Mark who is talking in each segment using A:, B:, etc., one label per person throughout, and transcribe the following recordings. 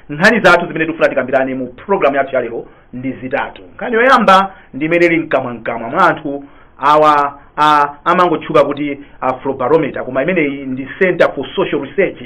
A: Nkhani zathu zimene tikufuna tikambirane mu programu yathu ya lero ndi zitatu. Nkhani yoyamba ndi imene ili mkamwamkamwa mwa anthu awa a- amangotchuka kuti afrobarometer koma imeneyi ndi center for social research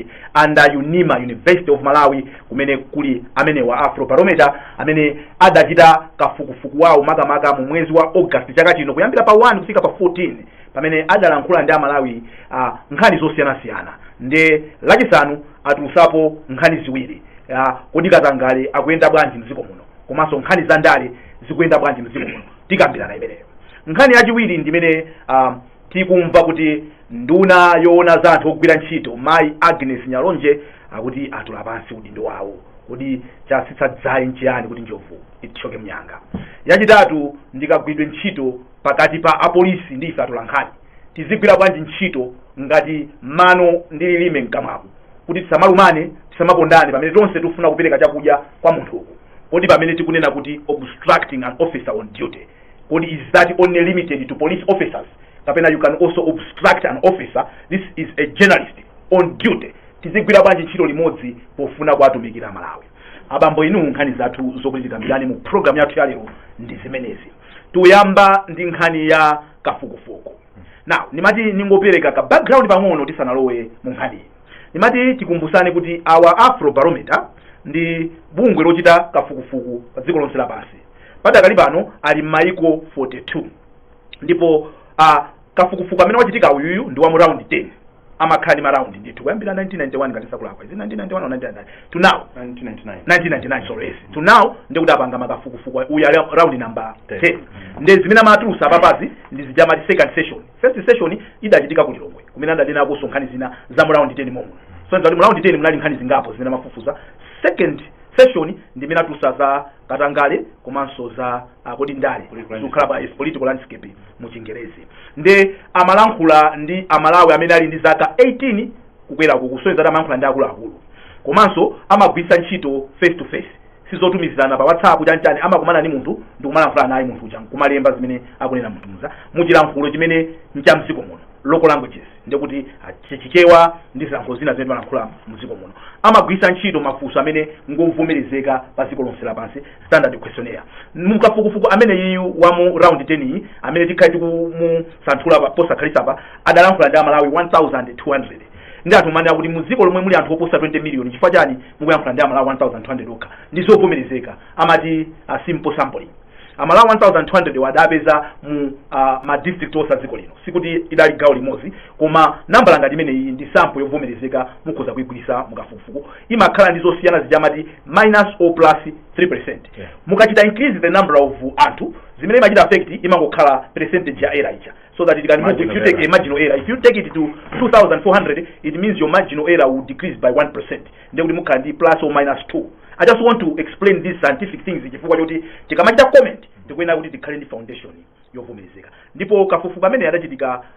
A: under unima university of malawi kumene kuli amenewa afrobarometer amene adachita kafukufuku wawo makamaka mu mwezi wa august chaka chino kuyambira pa 1 kufika pa 14 pamene adalankhula ndi amalawi uh, nkhani zosiyanasiyana nde lachisanu atulusapo nkhani ziwiri uh, kodi katangale akuyenda bwanji mdziko muno komanso nkhani za ndale zikuyenda bwanji mdziko muno tikambirana imeneyo nkhani yachiwiri ndimene uh, tikumva kuti nduna yoona za anthu ogwira ntchito mayi agnes nyalonje akuti atula pansi udindo wawo kodi chasitsa dzaye nchiyani kuti njovu itchoke mnyanga yachitatu ndi kagwiridwe ntchito pakati pa apolisi ndi ife atolankhani tizigwira bwanji ntchito ngati mano ndi lilime mkamwako kuti tisamalumane tisamapondane pamene tonse tikufuna kupereka chakudya kwa munthu uku kodi pamene tikunena kuti obstructing an officer on duty kodi is that only limited to police officers kapena you can also obstruct an officer this is a journalist on duty tizigwira bwanji ntchito limodzi pofuna kuwatumikira amalawi abambo inu nkhani zathu zokuti tikambirane mu programu yathu yalero ndi zimenezi tiyamba ndi nkhani ya kafukufuku now nimati ningopereka ka background pang'ono tisanalowe mu nkhaniyi nimati tikumbusane kuti awa afrobarometer ndi bungwe lochita kafukufuku pa dziko lonse lapansi padakali pano ali m'mayiko 42 ndipo a kafukufuku amene wachitika uyuyu ndi wa mu round 10 amakhala ndi maraundi ndithu kuyambira 1991 ngati sindikulakwa is it 1991 or 1999 to now 1999 1999 sorry yes to now ndikuti apanga makafukufuku uya ra- round number Ten. 10 nde zimene amatulusa apapazi ndi zijamati second session first session idachitika ku lilongwe kumene adanenakonso nkhani zina za mu round 10 momo so nde kuti mu round 10 munali nkhani zingapo zimene amafufuza second session ndi imene atulusa za katangale komanso za ah, kodi ndale Political zikukhala yes, political landscape mu chingerezi nde amalankhula ndi amalawi amene ali ndi zaka 18 kukwera ku kusonyeza kuti amalankhula ndi akuluakulu komanso amagwiritsa ntchito face to face sizotumizirana pa whatsapp chanchani amakumana ndi munthu ndikumalankhula naye munthu uja nkumalemba zimene akunena munthu uja muchilankhulo chimene ncha mdziko muno local languages ndikuti ah, chi- chichewa ndi zilankhulo zina zimene timalankhula mdziko muno amagwiritsa ntchito mafunso amene ngovomerezeka pa dziko lonse lapansi standard questionnaire mukafukufuku amene uyu wa mu round 10 yi amene tikhale tikumusanthula pa- posakhalitsapa adalankhula ndi amalawi 1200 nde anthu amanena kuti mu dziko lomwe muli anthu oposa 20 million chifukwa chani mukuyankhula ndi amalawi 1200 okha ndi zovomerezeka amati a simple sampling amalawi 1200 wa adapeza mu uh, ma district onse a dziko lino sikuti idali gawo limodzi koma nambala ngati imeneyi ndi sample yovomerezeka mukhoza kuigwiritsa mukafukufuku imakhala ndi zosiyana zija amati minus or plus 3% Yeah. mukachita increase the number of anthu zimene imachita affect imangokhala percentage ya error ija so that it can move if you take a marginal error if you take it to 2400 it means your marginal error will decrease by 1% ndiye kuti mukhala ndi plus or minus 2 i just want to explain these scientific things chifukwa choti tikamachita comment tikuyenera kuti tikhale ndi foundation yovomerezeka ndipo kafukufuku amene adachitika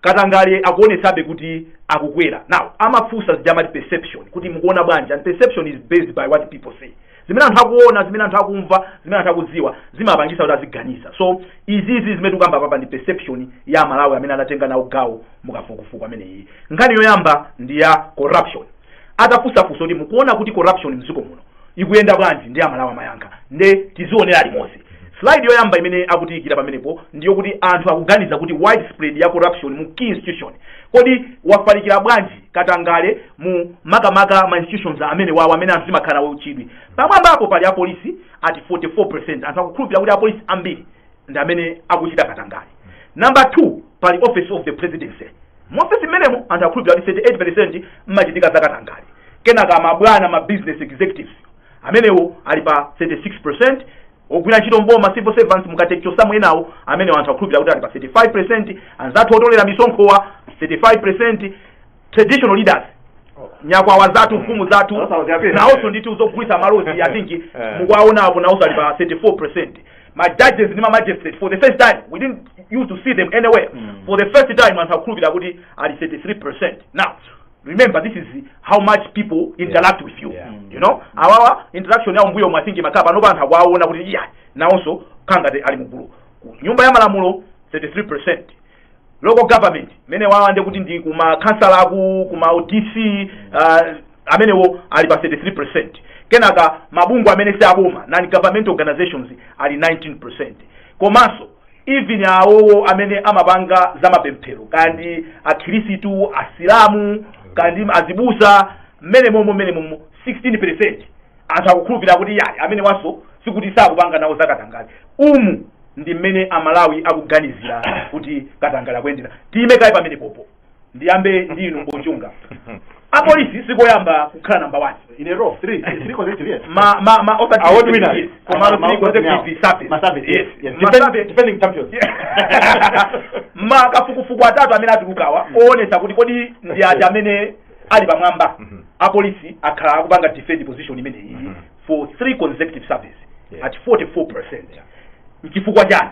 A: katangale akuonetsabe kuti akukwera now amafunsa zija amati perception kuti mukuona bwanji and perception is based by what people say zimene anthu akuona zimene anthu akumva zimene anthu akudziwa zimapangisa kuti aziganiza so izizi zimene tikukamba papa ndi perception ya Amalawi amene anatenga nawo gawo mukafukufuku ameneyi nkhani yoyamba ndi ya corruption atafunsafunsa kuti mukuona kuti corruption mdziko muno ikuyenda bwanji ndi Amalawi amayankha nde tizionera limodzi slide yoyamba imene akutiyikira pamenepo ndiyo kuti anthu akuganiza kuti widespread ya corruption mu key institution kodi wafalikira bwanji katangale mu makamaka ma institutions amene wawo amene anthu amakhala nawo chidwi pamwambapo pali apolisi ati 44% anthu akukhulupirira kuti apolisi ambiri ndi amene akuchita katangale number two pali office of the presidency Mu ofesi mmenemo, anthu akhulupirira kuti 38 peresenti mmachitika za katangale. Kenaka mabwana, ma business executives, amenewo ali pa 36 peresenti. Ogwira ntchito m'boma, civil servants, mukachotsamo enawo, amenewo anthu akhulupirira kuti ali pa 35 peresenti. Anzathu otolera misonkhowa 35 peresenti. Traditional leaders nyakwawa zathu mfumu zathu Sasa uziapira. nawonso ndithu zogulitsa malozi I think Eh. mukuwaonapo nawonso ali pa 34 percent ma judges ndi ma magistrates for the first time we didn't used to see them anywhere Mm. for the first time anthu akukhulupirira kuti ali 33% now remember this is how much people interact with you Yeah. you know awawa interaction yawo mbuyomu I think imakhala panopa anthu akuwaona kuti iya nawonso kangati ali mugulu nyumba ya malamulo 33% local government amenewawa ndi kuti ndi kuma khansala aku kuma udc uh, amenewo ali pa 33% kenaka mabungwe amene si aboma non government organizations ali 19% komanso even awowo amene amapanga za mapemphero kaya ndi akhirisitu asilamu kaya ndi azibusa mmene momo mmene momo 16% anthu akukhulupirira kuti yayi amenewanso sikuti sakupanga nawo zakatangale umu ndi mmene amalawi akuganizira kuti katangale akuyendera tiyime kaye pamenepopo ndiyambe ndi inu Mbo Chunga apolisi sikoyamba kukhala namba 1 In a row, three, three
B: consecutive years. ma ma ma osati Award
A: winners. Yes. koma Ma- ma- three consecutive service. Ma service, yes,
B: yes. Ma Defend- service. defending champions.
A: makafukufuku atatu amene atulukawa owonesa kuti kodi ndi ati amene ali pamwamba Mhm. apolisi akhala akupanga defend position imeneyi Mhm. for three consecutive surveys Yeah. at 44 percent Yeah. nchifukwa chani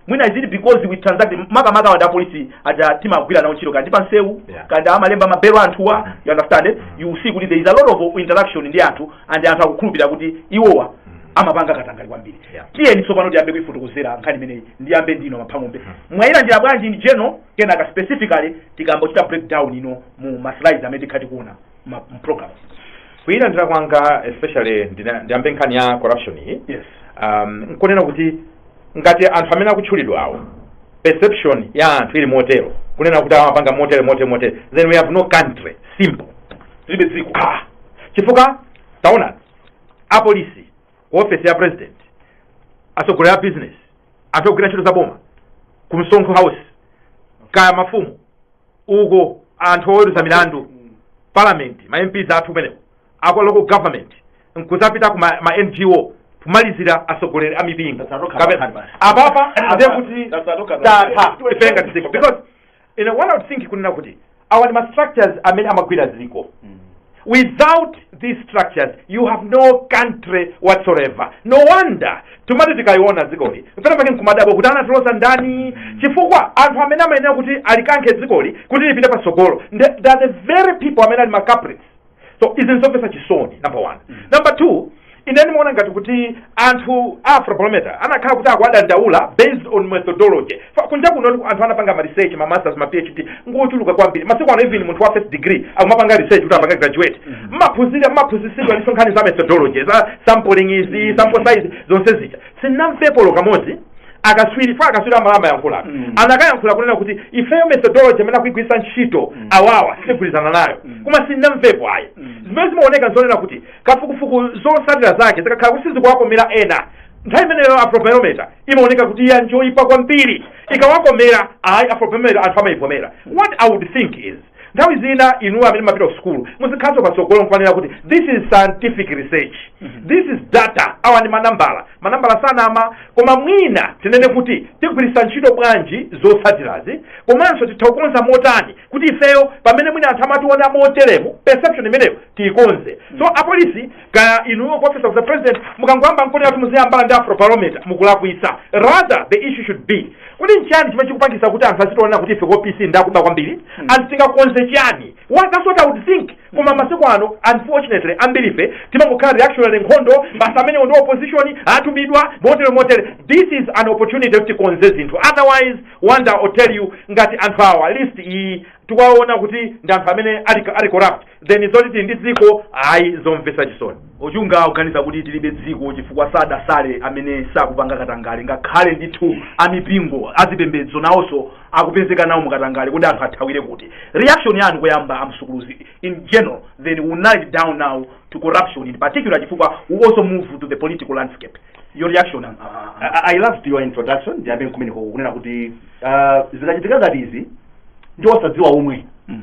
A: mwina is it because we transact makamaka apolisi aja timagwira nawo ntchito kaya ndi pansewu Yeah. kaya ndi amalemba mabelo anthuwa Mhm. you understand it? Mhm. you see kuti there is a lot of interaction ndi anthu and anthu akukhulupirira kuti iwowa Mhm. amapanga katangale kwambiri Yeah. tiyeni tsopano tiyambe kuifotokozera nkhani imeneyi ndiyambe ndi inu a Mhango mbe Mhm. mwayilandira bwanji in general kenaka specifically tikangochita breakdown ino mu ma slides amene tikhala tikuona ma mu programs
B: kuilandira kwanga especially ndina- ndiyambe nkhani ya corruption iyi yes um, nkunena kuti ngati anthu amene akutchulidwa awo perception ya anthu ili motero kunena kuti amapanga motere motere motere then we have no country simple tilibe dziko ah. chifukwa taona apolisi ku office ya president atsogoleri a business anthu ogwira ntchito za boma ku msonkho house kaya mafumu uko anthu oweruza milandu parliament ma mps athu kumeneko aku local government nkudzapita ku ma, ma ngo kumalizira atsogoleri a mipingo Tasatoka Kape- pakhali basi. apapa ndiye kuti Tasatoka tatha pakhali. ifenga tiziko because you know, one would think kunena kuti awa ndi ma structures amene amagwira dziko without these structures you have no country whatsoever no wonder tumati tikaliona dzikoli pena pake nkumadabwa kuti anatiloza ndani chifukwa anthu amene amayenera kuti alikankhe dzikoli kuti lipite patsogolo nde- they are the very people amene ali ma culprits so izi nzomvetsa chisoni number one number two ine ndimaona ngati kuti anthu a afrobarometer anakakhala kuti akuwadandaula based on methodology Fa- kunja kuno anthu anapanga ma research ma masters ma phd ngochuluka kwambiri masiku ano even munthu wa first degree akumapanga research kuti apange graduate mmaphunzira mmaphunzisidwa ndi nkhani za methodology za sampling izi sample size zonse zija sinnamvepo olo kamodzi akaswiri fa akaswiri amala amayankhula Mm. anakayankhula kunena kuti ifeyo methodology amene akuigwiritsa ntchito Mm. awawa sitigwirizana nayo Mm. koma sinnamvepo ayi Mm. zimene zimaoneka nzonena kuti kafukufuku zotsatira zake zikakhala kuti sizikuwakomera ena nthawi imeneyo afrobarometer imaoneka kuti iya njoyipa kwambiri ikawakomera ayi afrobarometer anthu amayivomera what i would think is nthawi zina inuwo amene munapita ku sukulu muzikhalanso patsogolo nkumanena kuti this is scientific research this is data awa ndi manambala manambala sanama koma mwina tinene kuti tigwiritsa ntchito bwanji zotsatirazi komanso titha kukonza motani kuti ifeyo pamene mwina anthu amationa moteremo perception imeneyo tiyikonze so apolisi kaya inuyo kuoffice of the president mukangoyamba nkunena kuti muziyambana ndi afrobarometer mukulakwitsa rather the issue should be kuti nchani chimene chikupangisa kuti anthu azitiona kuti ife ku opc ndakuba kwambiri and tingakonze chani Well, that's what i would think koma masiku ano unfortunately ambiri ife timangokhala reactionary nkhondo basi amenewo ndi a opposition atumidwa motere motere this is an opportunity kuti tikonze zinthu otherwise wonder or tell you ngati anthu awa list iyi tikuwaona kuti ndi anthu amene ali ali corrupt then zoti tili ndi dziko ayi zomvetsa chisoni achunga kuganiza
A: kuti tilibe dziko chifukwa sadasale amene sakupanga katangale ngakhale ndithu amipingo azipembedzo nawonso akupezeka nawo mukatangale kodi anthu athawire kuti reaction yanu koyamba amsukuluzi in general then we narrow it down now to corruption in particular chifukwa we also move to the political landscape your reaction am- ah, ah, ah. I, I loved
C: your introduction ndiyambe nkumeneko kunena kuti uh, zikachitika ngati izi ndi osadziwa omwe Mm.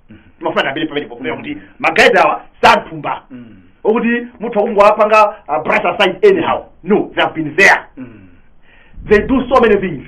C: mafuna ndiyambire pamenepo kunena kuti ma guys awa si anthu wamba okuti munthu akungowapanga uh, brush aside anyhow no they have been there they do so many things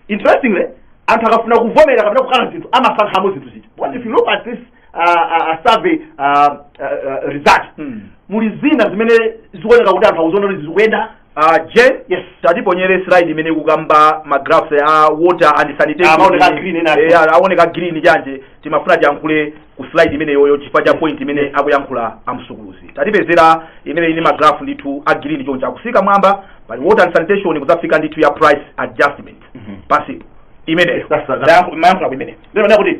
C: interestingly anthu akafuna kuvomera kapena kukana zinthu amasankhamo zinthu ziti because if you look at this uh, uh, uh, survey uh, uh, uh, result Mm. muli zina zimene zikuoneka kuti anthu akuziona kuti zikuyenda Uh, Jen,
A: yes. tatiponyere slide imene ikukamba ma graphs a water and sanitation. Amaoneka green ena. Eh, aoneka green choncho. Timafuna tiyankhule ku slide imeneyoyo chifukwa cha point imene akuyankhula amsukuluzi. Tatipezera imene ili ndi ma graph ndithu a green choncho akutsika mwamba pali water and sanitation kudzafika ndithu ya price adjustment. Mhm. Pansi. Imene. That's- that's- Mayankhula ku imene. Lero ndakuti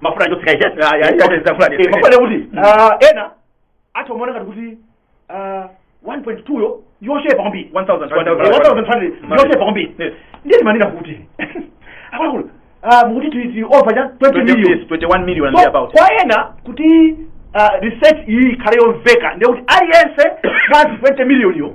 C: mafuna acho sikaisha mafuna kuti ah, ena atha kumaona ngati kuti ah, 1.2 yo yochepa kwambiri 1200 yochepa kwambiri Yes. ndiye timanena kuti akuluakulu ah, mukuti ti- ti over cha 20 million 21 million and So,
A: thereabout kwa ena kuti
C: ah, research iyi ikhale yomveka ndekuti aliyense mwa 20 million yo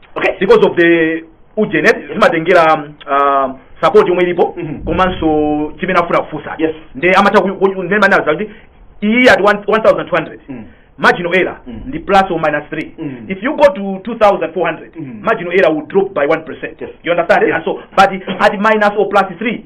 A: okay because of the ujeni eh, zimatengera um, uh, support yomwe ilipo Mhm. komanso chimene afuna kufunsa Yes. nde amatha ku- ku- nde manaza kuti iyi at one- 1200 Mm. marginal error Mm. ndi plus or minus 3 Mm. if you go to 2400 Mm. marginal error will drop by 1% Yes. you understand Yes. and so but at minus or plus 3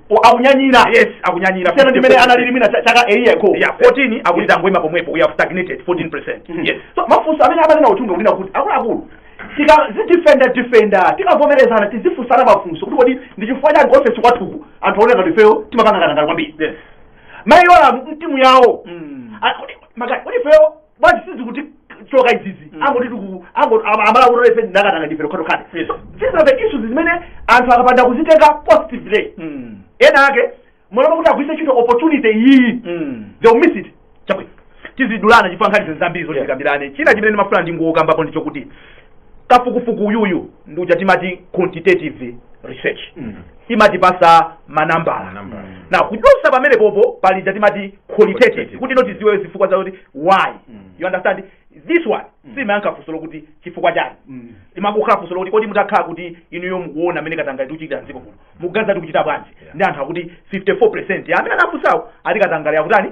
A: O-
C: akunyanyira yes
A: akunyanyira siyana ndi mmene analili
C: mwina cha- chaka earlier ko yeah 14
A: akuti tangoima pomwepo we have stagnated 14% Mhm. yes so mafunso amene amanena
C: achunga kunena kuti akuluakulu tikazidifenda difenda tikavomerezana tizifunsana mafunso kuti kodi ndi chifukwa chani kuofesi kwathuku anthu aoneka kuti ifeyo timapanga katangale kwambiri yes mayi yolamu timu yawo Mm. Ah, kodi- maka- kodi ifeyo bwanji sizikutichoka izizi Mm. angoti tiku ango- ama- amalamulo ife ndakatangale ndife tokhatokha Yes. so these are the issues zimene anthu akapanda kuzitenga positively Mm. ena ake mmalo mwakuti agwiritse ntchito opportunity iyiyi Mm. they will miss it
A: chabwino tizidulana chifukwa nkhani zinthu zambiri zoti Yeah. tikambirane china chimene ndimafuna ndingokambapo ndi chokuti kafukufuku uyuyu ndi uja timati quantitative research Mm. imatipasa manambala Manambala. na kudusa pamene popo pali ija timati qualitative Qualitative. kuti no tiziwe zifukwa zakuti why Mm. you understand this one simayankha funso lokuti chifukwa chiyani Mm. imangokhala funso lokuti kodi mutakhala kuti inuyo mukuona mmene katangale tikuchitira mdziko kuno mukuganiza tikuchita bwanji Yeah. ndi anthu akuti 54 percent amene anafunsawo ati katangale akutani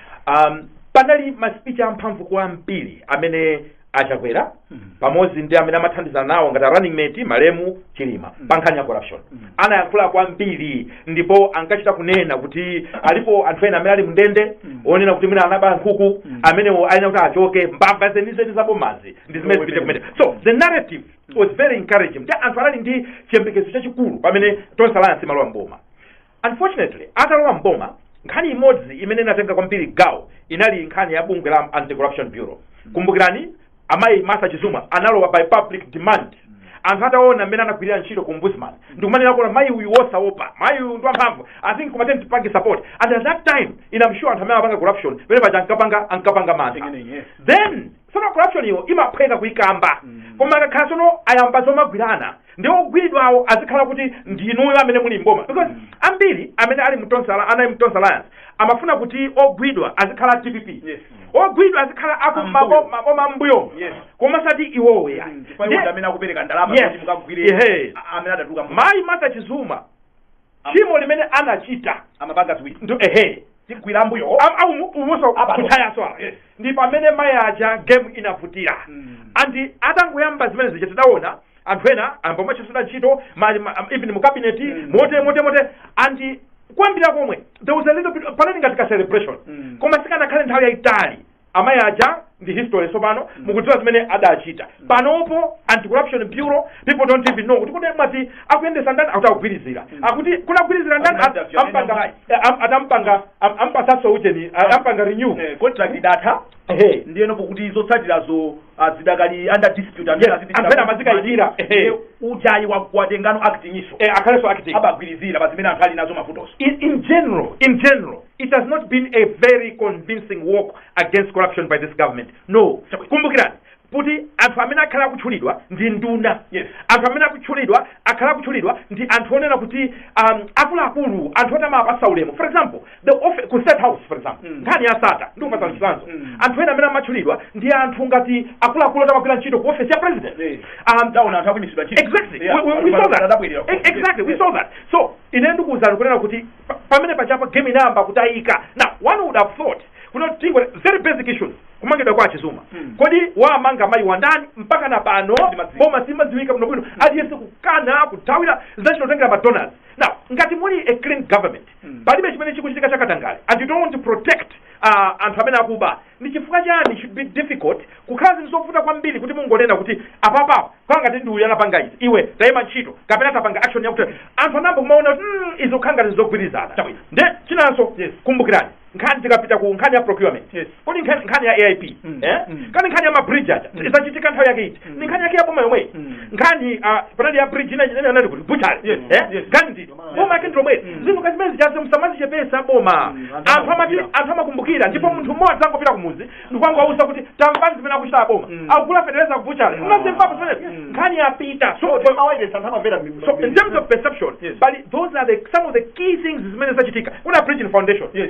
B: um, panali masipichi amphamvu kwambiri amene a Chakwera Mm. pamodzi ndi amene amathandizana nawo ngati a running mate malemu Chilima Mm. pa nkhani ya corruption Mm. anayankhula kwambiri ndipo ankachita kunena kuti alipo anthu ena amene ali mndende Mm. onena kuti mwina anaba nkhuku Mm. amenewo ayenera kuti achoke mbava zenizeni zabomazi ndi zimene zipite kumene so the narrative was very encouraging kuti anthu anali ndi chiyembekezo chachikulu pamene Tonse Alliance imalowa mboma Unfortunately, atalowa m'boma, nkhani imodzi imene inatenga kwambiri gawo inali nkhani ya bungwe la Anti-Corruption Bureau. Kumbukirani, amayi Martha Chizuma analowa by public demand. Anthu ataona mmene anagwirira ntchito ku ombudsman, ndikumanena kuti mayi uyu wosaopa, mayi uyu ndi wamphamvu, I think kumateni tipange support. And at that time, I'm sure anthu amene amapanga corruption, pamene paja ankapanga ankapanga mantha. Beginning, yes. Then, sono corruption iyo imaphweka kuikamba. Koma akakhala sono ayamba zomagwirana, ndi ogwidwawo azikhala kuti ndi inuyo amene muli mboma because ambiri amene anali mu Tonse anali mu Tonse Alliance amafuna kuti ogwidwa azikhala DPP Yes. ogwidwa azikhala aku Ambuyo. mabo- maboma ambuyo Yes. koma osati iwowo ya chifukwa iwo ndi amene akupereka
A: ndalama Yes. kuti mukagwire Ehe. a- amene adatuluka mu- mayi Martha Chizuma
B: tchimo limene anachita amapanga ziwiri
A: ndo
B: ehe tigwira ambuyo
A: umuso
B: Apa. kutchayaso apa Yes. ndi pamene mayi aja game inavutira Mm. and atangoyamba zimene zija tidaona anthu ena ayamba kumachotsedwa ntchito ma- ma- even mu cabinet Mm. moti moti moti and koyambirira komwe there was a little bit panali ngati ka celebration Mm. koma sikanakhalitse nthawi yayitali amayi aja ndi history tsopano mukudziwa zimene adachita panopo anti corruption bureau people don't even know kuti kodi mwati akuyendetsa ndani akuti akugwirizira akuti kuti akugwirizira ndani Amanda Fiona ampanga Mbayi. eh, am- adampanga am- ampatsaso uchani ah, ampanga renew Eh, contract
A: idatha Ehe. ndiyeno pokuti zotsatirazo ah, zidakali under dispute amene Yes, azipitira amene ku-
B: amazikayikira. Ehe. Ndiye ujeni
A: wa- watengano acting DG so Eh, akhalenso acting abagwirizira
B: pa amene anthu
A: ali nawo mavutoso in, in general
B: in general it has not been a very convincing walk against corruption by this government no Chabwino. kumbukirani kuti anthu amene akhala akutchulidwa ndi nduna Yes. anthu amene akutchulidwa akhala akutchulidwa ndi anthu onena kuti um, akuluakulu anthu oti timawapatsa ulemu for example the office, ku State House for example Mm. nkhani ya Sattar ndikupatsani Mm. chitsanzo Mm. anthu ena amene amatchulidwa ndi anthu ngati akuluakulu oti amagwira ntchito ku office ya president Yes. um, taona anthu akuimitsidwa ntchito Exactly. Yeah. We, we, we saw that. Adabwerera ku- E- Exactly. We Yes. saw that. So, ine ndikuwuzani kunena kuti Pa- pamene pachapo game inayamba kutayika now one would have thought kuti on very basic issues kumangidwa kwa Chizuma Mm. kodi wamanga mayi wandani mpaka na pano Simadziwika. boma simadziwika bwino bwino aliyense kukana kuthawira zinachotengera madonors now ngati muli a clean government Mm. palibe chimene chikuchitika chakatangale and you don't want to protect uh, anthu amene akuba Ndi chifukwa chani it should be difficult kukhala zinthu zovuta kwambiri kuti mungonena kuti apapa kukhala ngati ndi uyu anapanga izi iwe taima ntchito kapena tapanga action yakuti anthu ayambe kumaona kuti mm, izi kukhala ngati zogwirizana Chabwino. nde chinanso Yes. kumbukirani nkhani tikapita ku nkhani ya procurement Yes. kodi nkhani nkhani ya aip Mm. eh? Mm. kaya nkhani ya mabridge aja Mm. izachitika nthawi yake iti Mm. ni nkhani yake ya boma yomweyi Mm. nkhani ah, panali ya bridge ina ina anali ku butchale Yes. eh? Yes. nkhani ndi boma lake ndilomweli zinthu ngati zimene zijazi musamazichepesa boma Mm, anthu anthu amati amakumbukira. anthu amakumbukira ndipo munthu mmodzi angopita kumuzi ndikukangowauza kuti tamvani zimene akuchita aboma Mm. akugula fetereza kubuchale Mm. unazimvapo zimene Mm. nkhani yapita so Kodi mawayilesi anthu amamvera mi- so in terms of perception Yes. but those are the some of the key things zimene zachitika kuna Bridgin Foundation Yes.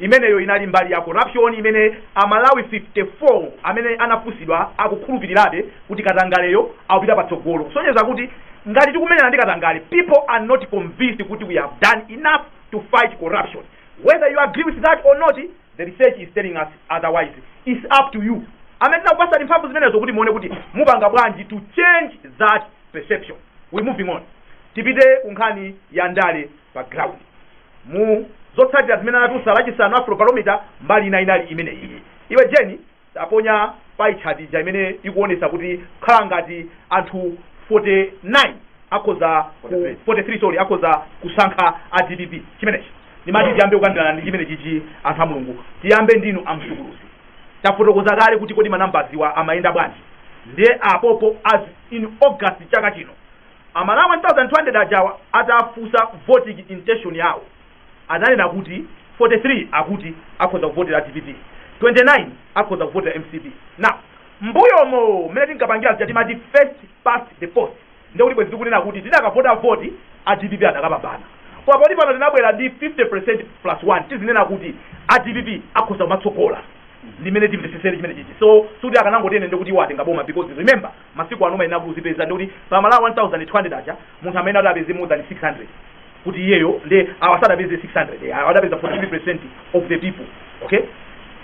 A: Imeneyo inali mbali ya corruption imene a Malawi 54 amene anafunsidwa akukhulupirirabe kuti katangaleyo akupita patsogolo. Kusonyeza kuti ngati tikumenyana ndi katangale, people are not convinced kuti we have done enough to fight corruption. Whether you agree with that or not, the research is telling us otherwise. It's up to you. Amene tinakupatsani mphamvu zimenezo kuti muone kuti mupanga bwanji to change that perception. We moving on. Tipite ku nkhani ya ndale. pa ground mu zotsatira zimene anatulutsa lachisanu afrobarometer mbali ina inali imene iyi iwe jeni taponya pie chart ija imene ikuonesa kuti kukhala ngati anthu 49 akhoza ku- 43. 43 sorry akhoza kusankha a dpp chimenechi ndimati tiyambe kukambirana ndi chimene chichi anthu a mulungu tiyambe ndinu amsukuluzi tafotokoza kale kuti kodi manambazi wa amayenda bwanji ndiye apopo as in august chaka chino A Malawi 1200 ajawa atafunsa voting intention yawo ananena kuti 43 akuti akhoza kuvotera dpp 29 akhoza kuvotera mcp now mbuyomo mmene tinkapangira zija timati first past the post nde kuti bwezi tikunena kuti tidakavota voti a dpp adakapambana koma poti pano tinabwera ndi 50 percent plus 1 tizinena kuti a dpp akhoza kumatsogola ndimene timvetsetsere chimene chichi so sikuti akanangotere ndekuti iwo atenga boma because remember masiku ano umayenera kuzipeza ndi kuti pa Amalawi 1200 aja munthu amene adapeze more than 600 kuti iyeyo ndi awa sadapeze 600 eh, awa adapeza 43% of the people okay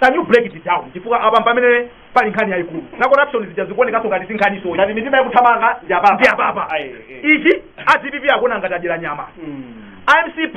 A: can you break it down chifukwa apa pamene pali nkhani yayikulu na corruption zija zikuonekanso ngati si nkhani soyi ngati mitima
C: ikuthamanga ndi apapa ndi apapa Ayi, eh.
A: ichi adpp akuona ngati adyera nyama Mm. a mcp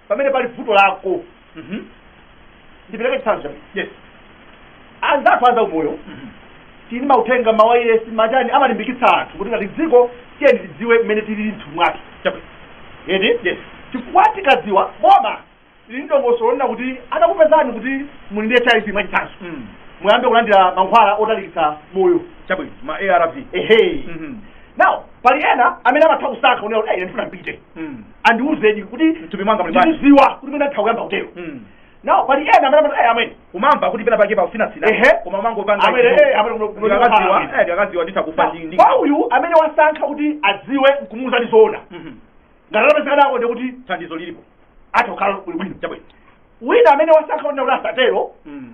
C: pamene pali vuto lako Mhm. ndipereke chitsanzo
A: chabwino
C: Yes. anzathu a zaumoyo Mhm. tili ndi mauthenga mawayilesi machani amalimbikitsa anthu kuti ngati dziko tiyeni tidziwe mmene tili mthupi mwake Chabwino. edi Yes.
A: chifukwa
C: tikadziwa boma lili ndongosolo lina kuti atakupezani kuti muli ndi hiv mwachitsanzo Mm. muyambe kulandira mankhwala otalikitsa moyo Chabwino. Ma ARV.
A: ehe Mhm.
C: now pali ena amene amatha kusankha kunena kuti "Ayi, ine ndifuna mpite Mm. andiuzeni kuti Mthupi mwanga muli bwanji?
A: ndiziwa kuti mwina nditha kuyamba
C: kutero Mm. now pali ena amene amati "Ayi, amene umamva kuti pena pake
A: pakutsinatsina Ehe. koma umangopanga Amene, ichi. eh, amene kuno- kuno- Ndikakadziwa, kuno- eh, ndikakadziwa nditha kufa ndi- ndi- kwa uyu amene wasankha
C: kuti adziwe nkumuuza ndizoona Mhm. ngati atapezeka nako ndi kuti thandizo
A: lilipo atha kukhala
C: ali bwino chabwino wina amene wasankha kuti kuti asatero Mm.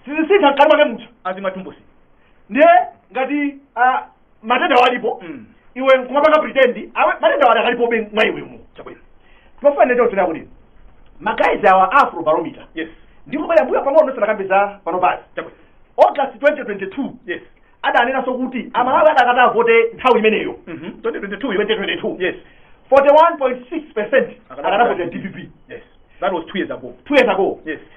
C: sizisintha mkati mwake munthu azimatumbusi
A: ndiye
C: ngati ah, matenda walipo Mm. iwe nkumapanga pretend awe matenda wali akalipobe mwa iwe mu
A: chabwino tifanizire ndiye tunena
C: kuti magayizi awa a Afrobarometer yes
A: ndikubwerera mmbuyo pang'ono
C: ndisanakambe za panopazi chabwino
A: august
C: 2022
A: yes adanenanso
C: kuti amalawi akadati avote nthawi imeneyo mhm 2022
A: 2022 yes 41.6
C: percent akadavote dpp yes that was
A: 2 years ago two years ago yes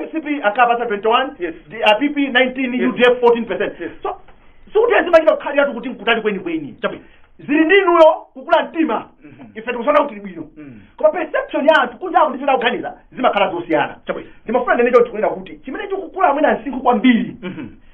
A: mcp
C: ankapasa 21 Yes. DPP
A: 19
C: Yes. udf 14 percent Yes. so sikuti zimachita kukhaliratu kuti nkutali kwenikweni Chabwino. zili ndi inuyo kukula mtima Mhm. ife tikuchita bwino Mm. koma perception ya anthu kunja ndi zimene ukuganiza zimakhala zosiyana Chabwino. ndimafuna ndinene choncho kunena kuti chimene chikukula mwina msinkhu kwambiri Mhm.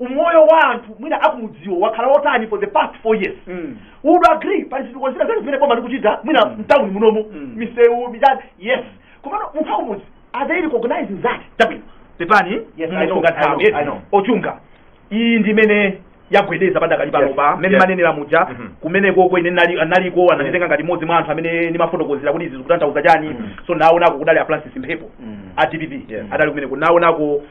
C: umoyo wa anthu mwina akumudziwo wakhala wotani for the past four years Mm. would agree pali zitukuko zina zake zimene boma likuchita mwina Mm. mtawuni munomu Mm. misewu michani yes komano munthu akumudzi are they recognizing that chabwino pepani
A: Yes, I know, musunge I know,
C: nthawi yes. I know. a
A: Chunga iyi ndi imene yagwedeza padakali pano Yes, mmene yes. mwanenera muja Mhm. kumeneko ko ine nali- naliko ananditenga ngati mmodzi mwa anthu amene ndimafotokozera kuti izi zikutanthauza chani Mhm. so naonako kudali a francis mphepo Mhm. a dpp Yes. adali kumeneko naonako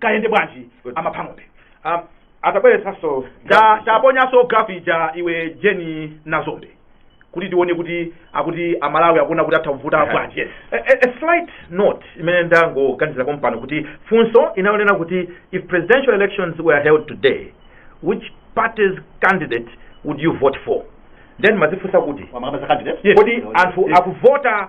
A: kayenda bwanji Good. amapha ng'ombe
B: Um, atabweretsanso Ta-
A: taponyanso girafu ija iwe jeni nazombe kuti tione kuti akuti amalawi akuona kuti atha kuvota Aha. bwanji yes A, a,
B: a slight note imene ndangoganizira pompano kuti funso linali lonena kuti if presidential elections were held today which party's candidate would you vote for then ndimadzifunsa kuti amakamba za candidate Yes. kodi anthu Yes. akuvota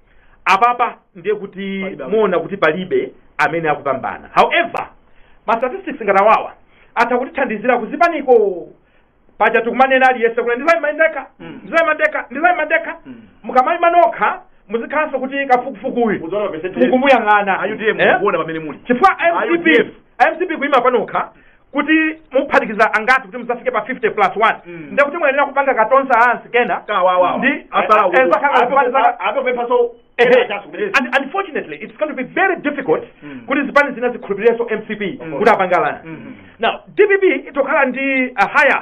B: apapa ndiye kuti Palibe. muona kuti palibe amene akupambana however ma statistics ngati awawa atha kutithandizira kuzipaniko paja tikumanena aliyense kuti ndizaima ndekha Mm. ndizaima ndekha ndizaima ndekha Mm. mukamaima nokha muzikhalanso kuti kafukufukuyu Mudziona mapesenti mukumuyang'ana aiwo Eh?
A: mukuona pamene muli chifukwa mcp
B: a UDF. mcp kuima panokha kuti muphatikiza angati kuti muzafike pa 50 plus 1 Mm. ndiye kuti muyenera kupanga ka alliance kena kawawa ndi eh, eh, zakhala
A: zipani zaka- apephanso
B: Ehe. And unfortunately, it's going to be very difficult Mm. kuti zipani zina zikhulupirirenso mcp Mm. kuti apangalana Mm. now dpp itokhala ndi a higher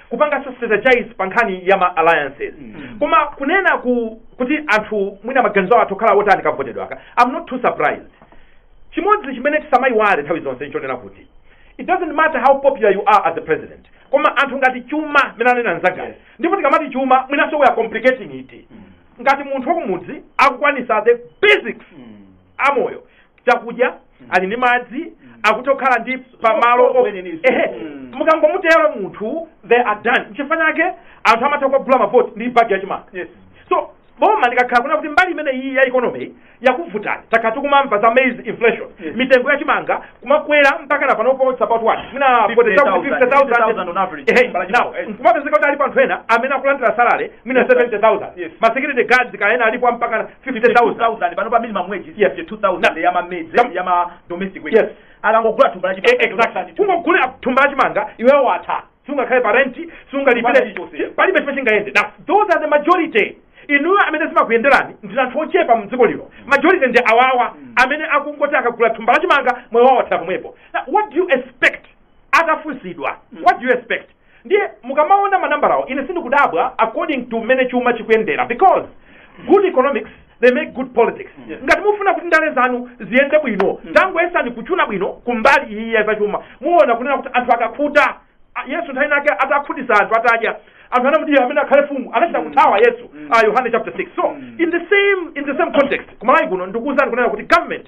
B: kupanganso strategize pa nkhani ya ma alliances koma kunena kuti anthu mwina maganizo awo atha kukhala otani kavotedwe kake i'm not too surprised chimodzi chimene tisamayiwale nthawi zonse nchonena kuti it doesn't matter how popular you are as a president koma anthu ngati chuma mmene anena mnzangayi Yes. ndipo tikamati chuma mwinanso we are complicating it ngati munthu wakumudzi akukwanisa the basics amoyo chakudya ali ndi madzi akutha kukhala ndi pamalo o- Kweneninso. ehe Mm. mukangomutera munthu they are done chifukwa chake anthu amatha kugula mavoti ndi bagi yachimanga Yes. so boma likakhala kunena kuti mbali imene iyi ya economy yakuvutani takhala tikumamva za maize inflation Yes. mitengo yachimanga kumakwera mpaka na panopo it's about what mwina 50,000 on average. Thumba la chimanga, yes.
A: nkumapezeka kuti
B: alipo anthu ena amene akulandira salary mwina Yes, sir. 70,000 Yes. ma security guards ka ena alipo mpaka na 52000 pano pa minimum
A: wage Yes. 52000 ya mamedzi Tam- ya ma domestic workers Yes. akangogula thumba la Eh, chimanga exactly kungogula
B: thumba la chimanga iweyo watha sungakhale pa renti Wala sungalipire chilichonse. palibe chimene chingayende now those are the majority inuyo amene zimakuyenderani ndi anthu ochepa mdziko lino majority ndi awawa amene akungoti akagula thumba la chimanga moyo wawo wathera pomwepo now what do you expect atafunsidwa what do you expect Ndiye mukamaona manambala awo ine sindikudabwa according to mmene chuma chikuyendera because good economics they make good politics Yes. ngati mufuna kuti ndale zanu ziyende bwino tangoyesani kuchuna bwino kumbali iyi ya zachuma muona kunena kuti anthu akakhuta a- yesu nthawi inayake atakhutisa anthu atadya anthu anamuti ameneyu akhale mfumu anachita kuthawa yesu ah, yohane chapter 6 so in the same in the same context ku malawi kuno ndikuwuzani kunena kuti government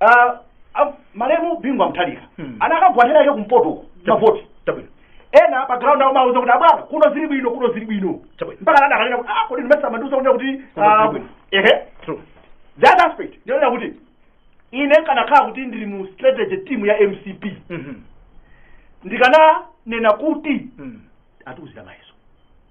C: Ah, ah, malemu bingu wa mutharika Hmm. atakagwa dera lake kumpoto mavoti
B: chabwino ena pa ground
C: awo amamuuza kuti abwana kuno zili bwino kuno zili bwino Chabwino. mpaka anadzakanena kuti
B: ah kodi
C: ndimayesa mumandiuza kunena kuti Kuno ah, zili bwino.
B: ehe true
C: the other aspect ndinena kuti ine ndikanakhala kuti ndili mu strategy team ya mcp Mhm. ndikananena kuti mm. atiuzira mayeso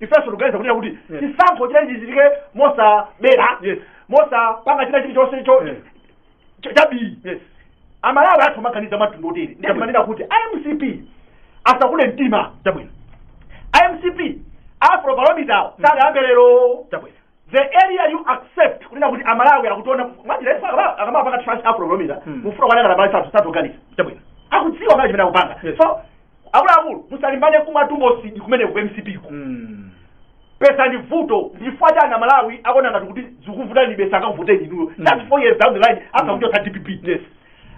B: ifenso tikuganiza
C: kunena kuti Yes. chisankho chimene chichitike mosabera Yes.
B: mosapanga china
C: chilichonse cho- Yes. cho- chachabe yes
B: amalawi atha
C: kumaganiza mwamtundu woterewu ndiye Chabwino. timanena kuti amcp asakule mtima
B: chabwino amcp
C: afrobarometer sadayambe lero chabwino
B: the area
C: you accept kunena kuti amalawi akutiona mwajira ife akama- akamapanga trust Afrobarometer Hmm. mufuna kwanena na bali sathu sathuganiza chabwino
B: akudziwa kale chimene
C: akupanga Yes. so akuluakulu musalimbane kumatumbo sidi kumene ku mcp ku Mm. besa ndi vuto nchifwa chani amalawi akuona ngati kuti zikuvutani besa akakuvoteni inuyo Mm. that's four years down the line after kuchotsa dpp yes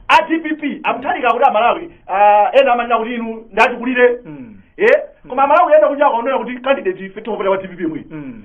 B: a
C: dpp a Mutharika kuti amalawi ah, ena amanena kuti inu ndatikulire Mm. eh koma amalawi ena kunja akaonera kuti candidate ife tikupita kwa dpp mwini Mm.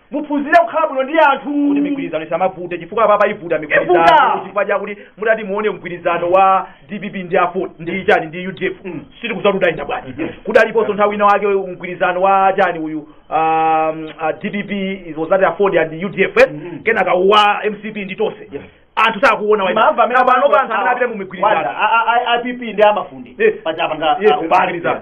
C: muphunzire kukhala bwino ndi anthu kuti migwirizano
B: isamavute chifukwa apapa ivuta migwirizano Ivuta. chifukwa chakuti mutati muone mgwirizano wa dpp ndi aford ndi chani ndi udf Mm. sitikudziwa udayenda bwanji kudaliponso nthawi ina wake mgwirizano wa chani uyu um, uh, dpp was at aford and udf eh? Mm. kenaka wa mcp ndi tonse Yes. anthu sakuona wa- Maamva amene Kapano pa
C: anthu amene apite
B: mu migwirizano Wanda, a- a- a- IPP ndi
C: amafundi Eh. pachapanga Yes, ubali migwirizano.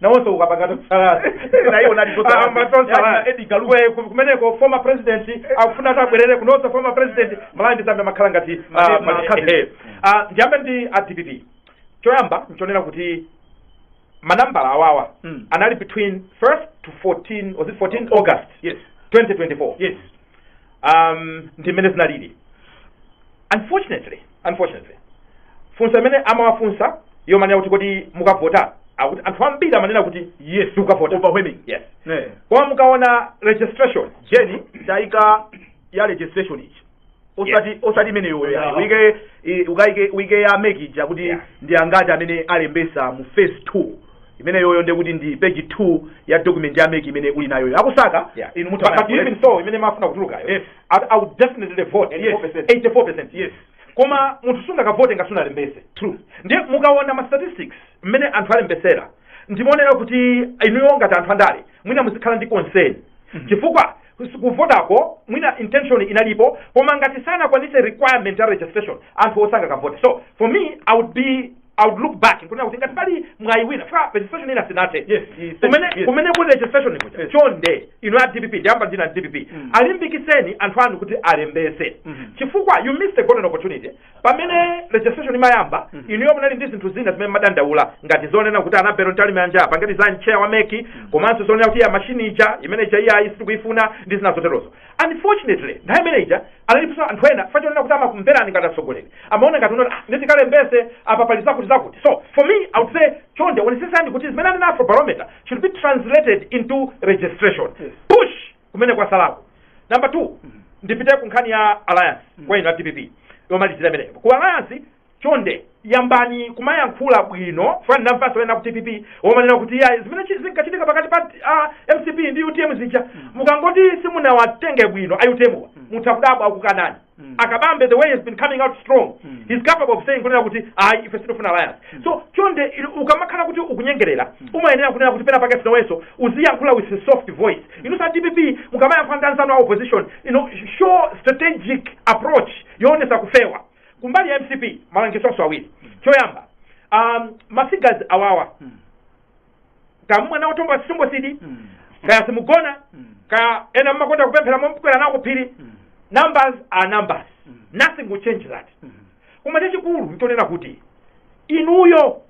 B: nawonso akupanga tonse alliance Naye anali tonse
C: alliance. Ama tonse alliance. Yaani
B: na Edgar Lungu. Kwe- ku- kumeneko former president akufuna ati abwerere kunonso former president malawi ndi zambia imakhala ngati ah, Mane- ma- mane- cousins. ehe. Ah, ndiyambe ndi a dpp choyamba nchonena kuti manambala awawa Mm. anali between 1st to 14 was it 14 august yes 2024 yes um, ndi mmene zinalili unfortunately unfortunately funso imene amawafunsa yomanena kuti kodi mukavota akuti anthu ambiri amanena kuti yes mukavota overwhelming yes
A: eh
B: koma mukaona registration jeni
A: taika ya registration ija osati Yes. osati imene yoyo Yeah. uike i- ukaike uike ya mec ija kuti Yeah. ndi angati amene alembesa mu phase 2 imeneyoyo ndiye kuti ndi page 2 ya document ya mec imene uli nayoyo a kusakala Yeah. inu But- but even
B: funso imene imafuna kutulukayo Yes. I, i would definitely vote Yes. 84% Yes. koma munthu sungakavote ngati sunalembese True. ndiye
A: mukaona ma
B: statistics mmene anthu alembesera ndimaonera kuti inuyo ngati anthu andale mwina muzikhala ndi concern chifukwa kus- kuvotako mwina intention inalipo koma ngati sanakwanitse requirement ya registration anthuwo sangakavote so for me i would be i would look back nkunena kuti ngati pali mwayi wina fa registration ina sinathe Yes, yes, kumene yes. kumene kuli registration kuja Yes. chonde inu a dpp ndiyamba ndi inu a dpp Mm. alimbikitseni anthu anu kuti alembese Mhm. chifukwa you missed a golden opportunity pamene registration imayamba Mhm. inuyo munali ndi zinthu zina zimene mumadandaula ngati zonena kuti Annabel Mtalimanja apa ngati ndi chair wa mec komanso zonena kuti ya machine ija imene ija iyayi sitikuifuna ndi zina zoterozo Unfortunately, nthawi imene ija analiponso anthu ena chifukwa chonena kuti amakumverani ngati atsogoleri amaona ngati kunoti ah, nditi kalembese apa pali zakuti zakuti so for me i would say chonde onesesani kuti zimene anena afro barometer should be translated into registration Yes. push kumene kwasalako number two ndipite ku nkhani ya alliance kwa inu a dpp yomalizira imeneyo ku alliance chonde yambani kumayankhula bwino fana ndamvanso ena ku dpp womanena kuti ya zimene chi- zinkachitika pakati pa ah, mcp ndi utm zija mukangoti simunawatenge bwino a utm wa mutha kudabwa akukanani Mm. akabambe the way he has been coming out strong Mm. he's capable of saying kunena kuti ayi ife sitifuna alliance so chonde ili- ukamakhala kuti ukunyengerera umayenera kunena kuti pena pake nawenso uziyankhula with a soft voice inu as dpp mukamayankhula ndi anzanu a opposition you know, show strategic approach yoonesa kufewa kumbali ya mcp malangizo onse awiri choyamba um, mafigures awawa Mm. kaya mumwe nawo tomba sitombo sidi Mm. kaya simugona Mm. kaya ena mmakonda kupemphera mukwera nawo kuphiri Mm. numbers are numbers Mm. nothing will change that Mm. koma chachikulu nchonena kuti inuyo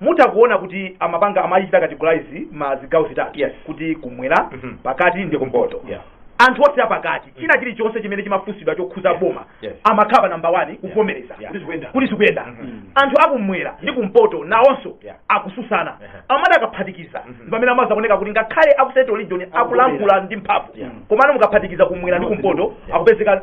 A: mutha kuona kuti amapanga amaichita categorize ma zigawo zitatu Yes. kuti kumwera Mhm. pakati ndi kumpoto Yeah. anthu onse apakati china chilichonse chimene chimafunsidwa chokhuza boma Yes. amakhala namba 1 kuvomereza Yeah. Kuti zikuyenda. kuti zikuyenda Mhm. anthu akumwera ndi kumpoto nawonso Yeah. akususana Uh-huh. amati akaphatikiza Mhm. ndi pamene amazaoneka kuti ngakhale aku central region akulankhula ndi mphamvu Yeah. komano mukaphatikiza kumwera ndi kumpoto Yeah. akupezeka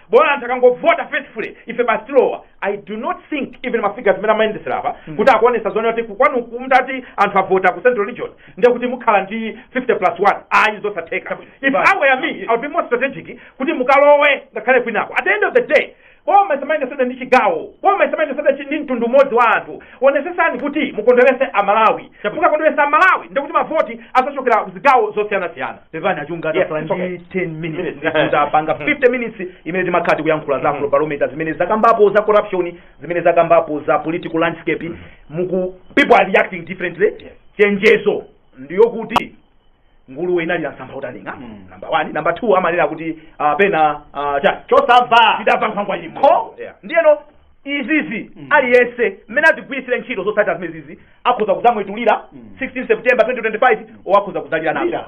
A: bola anthu akangovota faithfully ife basi tilowa i do not think even mafigures mmene amayendesera apa kuti akuonesa zonena kuti kukwanu kumtati anthu avota ku central region ndiye kuti mukhala ndi 50 plus 1 ayi zosatheka if i were me i would be more strategic kuti mukalowe ngakhale kwinako at the end of the day boma isamayendesedwe ndi chigawo boma isamayendesedwe ndi mtundu umodzi wa anthu onesesani kuti mukondwerese amalawi mukakondweresa amalawi ndikuti mavoti azachokera zigawo zosiyanasiyana pepani achunga Yes, tasala it's okay. ndi 10 minutes Minutes. ndipo tapanga 50 minutes imene timakhala tikuyankhula za afrobarometer zimene zakambapo za corruption zimene zakambapo za political landscape muku people are reacting differently chenjezo ndiyo kuti nguluwe inalira msampha utaning'a Mm. number one number two amanena kuti ah, pena ah, cha chosamva chidamva nkhwangwa ili mmutu Yeah. ndiyeno izizi Mm. aliyense mmene atigwiritsire ntchito zotsatira zimene zizi akhoza kudzamwetulira Mm. 16 september 2025 or akhoza kudzalira nazo Lira.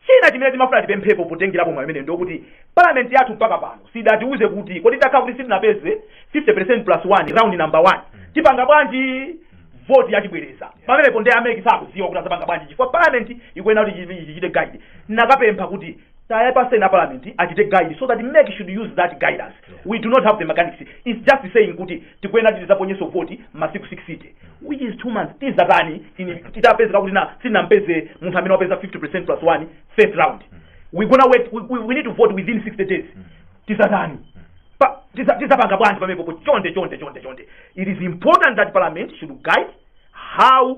A: china chimene timafuna tipemphepo potengerapo mwayi umene ndiokuti parliament yathu mpaka pano sidatiuze kuti kodi tikakhala kuti sitinapeze 50 plus 1 round number 1 tipanga bwanji voti yachibwereza pamenepo ndi a mec sakuziwa kuti azapanga bwanji chifukwa parliament ikuyenera kuti ichi- ichichite guide nakapempha kuti tayapaseni a parliament achite guide so that mec should use that guidance yeah. we do not have the mechanics is just saying kuti tikuyenera kuti tizaponyeso voti masiku 60 which is two months tizatani titapezeka kuti na sinampeze munthu amene wapeza 50 percent plus one first round mm. we gonna wait we, we, we need to vote within 60 days mm. tizatani tizapanga bwanji pamepopo chonde chonde chonde chonde it is important that parliament should guide how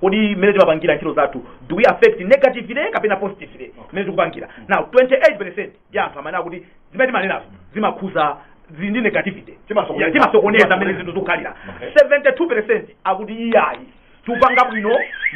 A: kodi mmene timapangira ntchito zathu do we affect negatively kapena positively mmene tikupangira now 28 percent ya anthu amene akuti zimene timanenazo zimakhuza zili ndi negativity Timasokoneza. Ya, timasokoneza mmene zinthu zikukhalira Okay. 72 percent akuti iyayi tupanga bwino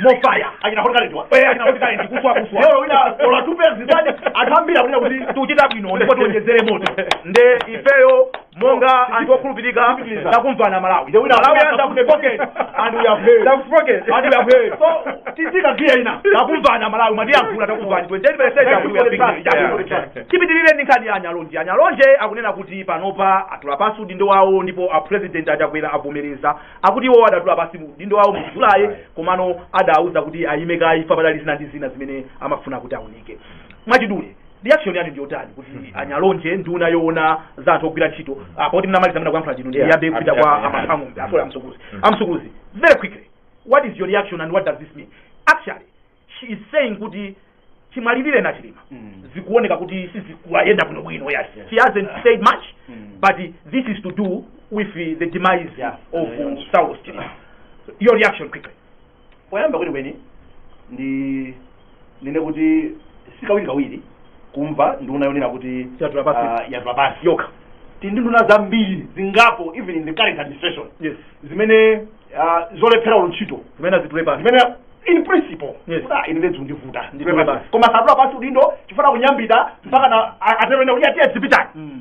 A: more fire achina hot current wa eh achina hot current ndi kuswa kuswa lero wina olo atupe zitani atambira kuti kuti tuchita bwino ndipo tiwonjezere moto nde ifeyo monga anthu okhulupirika takumvana malawi Nde wina malawi akapanga anza kutepokeni and we have heard Takufokeni. and we have heard so tiyika giya ina takumvana malawi mwatiyankhula takumvani 28 percent akuti we are big deal. Yeah. tipitirire ndi nkhani ya anyalonje anyalonje akunena kuti panopa atula pansi udindo wawo ndipo a president achakwera avomereza akuti iwo adatula pansi udindo wawo mu julayi komano adauza kuti ayime kaye chifukwa padali zina ndi zina zimene amafuna kuti aunike mwachidule reaction yanu ndiyotani kuti anyalonje nduna yoona za anthu ogwira ntchito poti mnamaliza mna kuyankhula ndinu Yeah, ndiyambe kupita kwa yeah, yeah. amang'ombe asola amsukuluzi amsukuluzi very quickly what is your reaction and what does this mean actually she is saying kuti chimwalirireni a chilima zikuoneka kuti sizikuwayenda bwino bwino yes she hasn't said much but this is to do with the demise Yeah. of Yeah. saulos chilima your reaction quickly poyamba
C: kwenikweni ndi nene kuti sikawirikawiri kumva nduna yonena kuti Yatula pansi. ah, yatula pansi yokha tili ndi nduna zambiri zingapo even in the current administration yes zimene ah, zolephera olo ntchito zimene azitule pansi zimene in principle Yes. kuti ah, ine nde zikundivuta Nditule Nditule pansi. pansi. koma satula pansi udindo chifuna kunyambita mpakana a- atero ena kuti atiye zipitani Mm.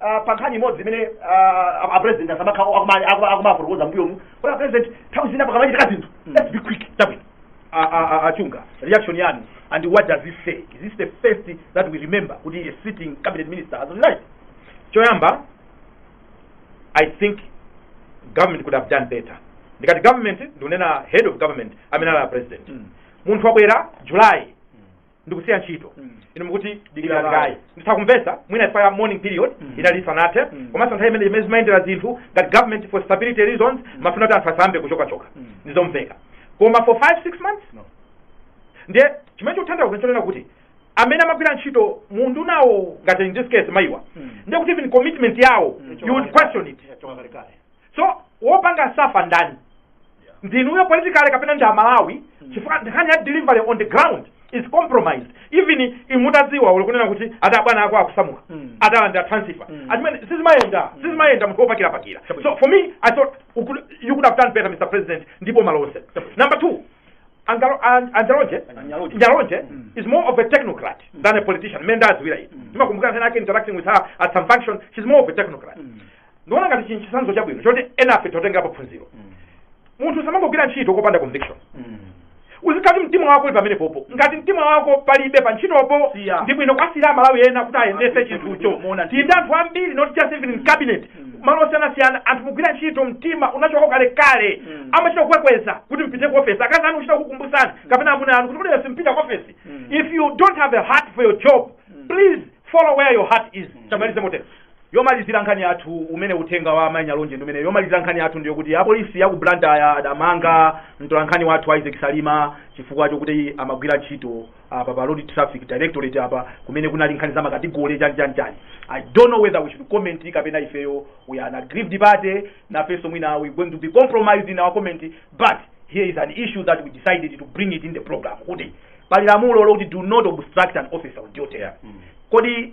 C: ah, pa nkhani imodzi imene ah, a- a president asamakha akuma- akuma- akumafotokoza mbuyomu kuti a president nthawi zina pakamachitika zinthu Mm. let's be quick chabwino A- a- a- achunga reaction yanu and what does this say is this the first that we remember kuti a sitting cabinet minister has resigned
B: choyamba i think government could have done better ndikati government ndikunena head of government amene ali a president Mm. munthu wabwera july ndikusiya ntchito Mm. inu mukuti Dikira dikira kaye. kaye nditha kumvesa mwina chifukwa ya mourning period Mm. inali isanathe Mm. komanso nthawi imene mmene zimayendera zinthu ngati government for stability reasons mumafuna kuti anthu asayambe kuchokachoka Mm. ndizomveka koma for 5 6 months No. ndiye chimene chikutanthauza kuti chonena kuti amene amagwira ntchito mu undunawo ngati in this case mayiwa Mm. ndiye kuti even commitment yawo Mm. you would question it Yachoka kalekale. so wopanga suffer ndani ndinuyo politically kapena ndi amalawi chifukwa nkhani ya delivery on the ground is compromised even inu mutadziwa uli kunena kuti ati abwana ako akusamuka Mm. atalandira transfer Mm. achimene sizimayenda sizimayenda munthu wopakira pakira Chabwino. so for me i thought you could, you could have done better mr president ndi boma lonse Chabwino. number two Angalo- An- anyalonje Anyalonje. nyalonje Mm. is more of a technocrat than a politician mmene ndawadziwira ine ndimakumbukira nkhani yake interacting with her at some function she's more of a technocrat Mm. ndiona ngati chinthu chitsanzo chabwino choti enafe titengerepo phunziro Mm. munthu samangogwira ntchito popanda conviction Mm. uzikati mtima wako uli pamene popo ngati mtima wako palibe pa ntchitopo Siya. ndi bwino kuwasiyira amalawi ena kuti ayendese Akuti chinthucho kuti muona tili ndi anthu ambiri not just even in cabinet Mm. malo osiyanasiyana anthu kugwira ntchito mtima unachoka kalekale Mm. amachita kukwekweza kuti mpite ku ofesi akazi anu kuchita kukumbusana kapena amuna anu kuti kuti lero simpita ku ofesi Mm. if you don't have a heart for your job Mm. please follow where your heart is chamalize motero Yomalizira
A: nkhani yathu umene uthenga wa Mai Nyalonje ndi umene yomalizira nkhani yathu ndiyo kuti apolisi ya ku Blantyre adamanga mtolankhani wathu Isaac Salima chifukwa chokuti amagwira ntchito apa pa Road Traffic Directorate apa kumene kunali nkhani za makategole chani chani chani. I don't know whether we should comment kapena ifeyo we are an aggrieved party nafenso mwina we going to be compromised in our comment but here is an issue that we decided to bring it in the program kuti pali lamulo lokuti do not obstruct an officer on duty. Kodi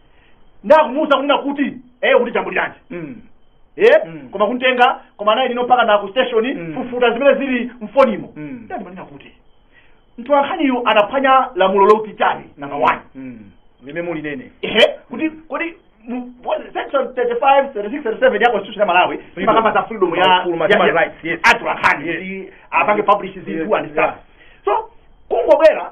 C: ndikumuuza kunena kuti eh kuti ukujambuliranji Mm. eh Mm. koma kumtenga kuyenda naye limodzi mpaka na ku station Mm. kufufuta zimene zili mfonimo Mm. ndiye ndimanena kuti mtolankhaniyo anaphwanya lamulo loti chiyani namba 1 Mm. Limene
A: mulinene. ehe kuti
C: kodi mu- what- section 35 36 37 ya constitution ya Malawi Freedom. imakamba za freedom ya Full human ya- ya- rights, yes.
A: atolankhani Yes. kuti
C: apange publish Yes, zinthu and yeah. stuff so kungobwera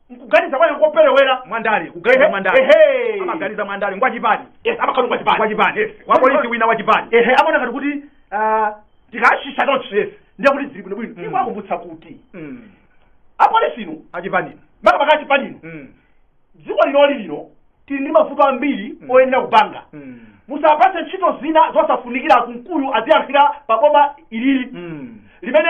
C: nkuganiza kwawo koperewera mwandale kuganiza
A: Ehe, mwandale ehe. amaganiza mwandale ngwachipani yes amakhala ngwachipani
C: wachipani yes. wapolisi
A: wina wachipani ehe amaona ngati kuti
C: ah, tikachita chonchi Yes. ndiye kuti zili bwinobwino Mm. nkuwakumbutsa kuti Mm. apolisi inu achipani
A: makamaka achipani
C: inu Mm. dziko linoli lino tili ndi mavuto ambiri Mm. oyenera kupanga Mm. musapatse ntchito zina zosafunikira munthuyu aziyankhulira pa boma ilili Mm. limene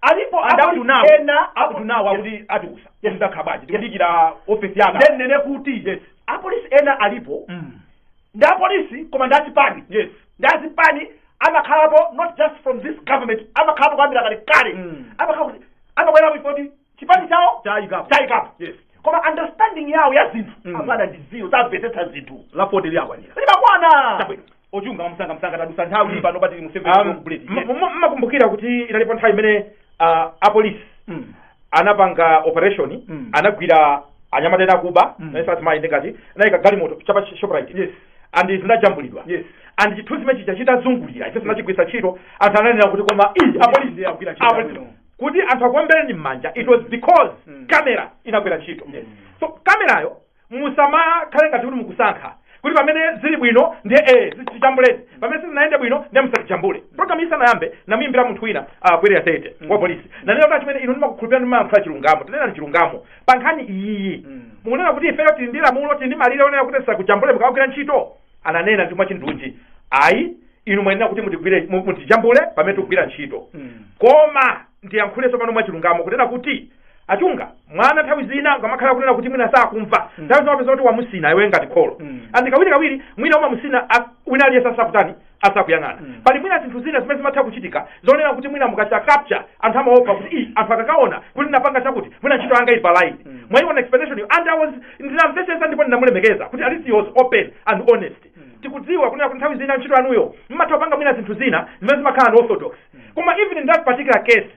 C: alipo And up to now,
A: ena up to now akuti atiuza Yes. ndakhalabe tikudikira ofesi yanga ndinene kuti
C: Yes. apolisi ena alipo Mm. ndi apolisi koma ndi achipani yes ndi achipani amakhalapo not just from this government amakhalapo kuyambira kale kale Mm. amakhala kuti amabwerapo chifukwa choti chipani chawo chawayikapo chawayikapo yes koma understanding yawo ya zinthu Mm. amakhala ndi zero samvetsetsa zinthu lipoti lakwanira
A: limakwana Chabwino.
C: Wochunga
A: mwamsangamsanga tadusa nthawi mm. pano patili mu Um, m- m- mmakumbukira
B: kuti inalipo nthawi imene ah, apolisi anapanga operation Mm. anagwira anyamata ena akuba Mm. naye satimayi ndingati anayika galimoto chapa shoprite Yes.
A: and
B: zinajambulidwa Yes. and
A: chithunzi chimene
B: chija chitazungulira ife tinachigwiritsa ntchito anthu ananena kuti koma ii apolisi ndiye agwira ntchito apolisi. yabwino.
A: kuti anthu akuombereni
B: m'manja it was because Mm. kamera inagwira ntchito Yes. so kamerayo musamakhale ngati kuti mukusankha kuti pamene zili bwino ndiye eh zijambuleni pamene sizinayende bwino ndiye musajambule program isanayambe ndinamuyimbira munthu wina uh, kwere asete mm. wa polisi ndinanena kuti achimwene inu ndimakukhulupirirani mumayankhula chilungamo tineneni chilungamo pa nkhani iyiyi mm. mukunena kuti ifeyo tili ndi lamulo tili ndi malire onena kuti tisakujambuleni mukamagwira ntchito ananena ndi mwachindunji ayi inu muyenera kuti mutigwire mu- mutijambule pamene tikugwira ntchito Mm. koma ndiyankhule tsopano mwachilungamo kunena kuti a Chungamwana nthawi zina ukamakhala kunena kuti mwina sakumva Mm. nthawi zina umapeza kuti wamusina iwe ngati kholo Mm. and kawiri kawiri mwina umamusina a- wina aliyense asakutani asakuyang'ana Mm. pali mwina zinthu zina zimene zimatha kuchitika zonena kuti mwina mukachita capture anthu amaopa kuti "Ii, anthu akakaona kuti ndinapanga chakuti mwina ntchito yanga ili pa line Mm. mwaiona explanation yo and i was ndinamvetsetsa ndipo ndinamulemekeza kuti at least he was open and honest Mm. tikudziwa kunena kuti nthawi zina ntchito yanuyo mmatha kupanga mwina zinthu zina zimene zimakhala unorthodox koma even in that particular case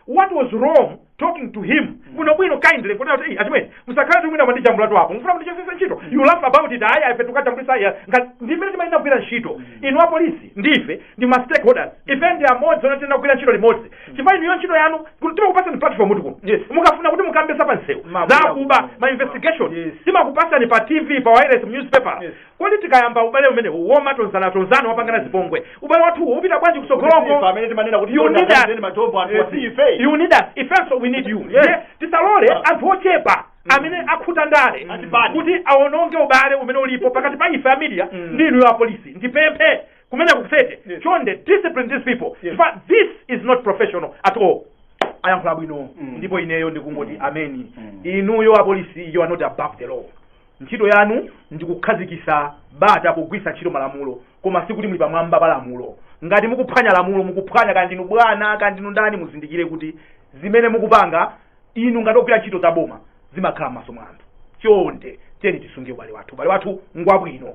B: what was wrong talking to him bwino bwino kindly kuti ati achimwene musakhale kuti mwina mwandijambula tu apo mufuna mundichosesa ntchito you laugh about it ayi ayi ife tikujambula ayi ngati ndimmene timayenera kugwira ntchito inu apolisi ndife ndi ma stakeholders ife ndi amodzi ndipo tiyenera kugwira ntchito limodzi chifukwa inuyo ntchito yanu kuti timakupasani platform kuti kuno Yes. mukafuna kuti mukambe za pa msewu Mabuya zakuba kuno. ma investigation Yes. timakupasani pa tv pa wireless mu newspaper Yes. Kodi tikayamba ubale umenewu womatonzanatonzana wopangana zipongwe, ubale wathuwo upita bwanji Kodi si ife kutsogoloko? amene timanena kuti
C: You need us. tiwonetseni matombo
B: anthu wasi ife
C: You need us. Ifenso
B: we need you. Yes. Yeah. Tisalole Yeah. anthu ochepa amene akhuta ndale Ati bani. kuti awononge ubale umene ulipo pakati pa ife a media Mm. ndi inuyo a polisi. Ndipemphe kumene kukusete. Yes. Chonde discipline these people. Yes. Chifukwa this is not professional at all. ayankhula bwino Mm. ndipo ineyo ndikungoti ameni Mm. inuyo apolisi you are not above the law Ntchito yanu ndi kukhazikisa bata pogwiritsa ntchito malamulo koma sikuti muli pamwamba pa lamulo. Ngati mukuphwanya lamulo, mukuphwanya kaya ndinu bwana kaya ndinu ndani muzindikire kuti zimene mukupanga inu ngati ogwira ntchito za boma zimakhala m'maso mwa anthu. Chonde tiyeni tisunge ubale wathu. Ubale wathu ngwabwino.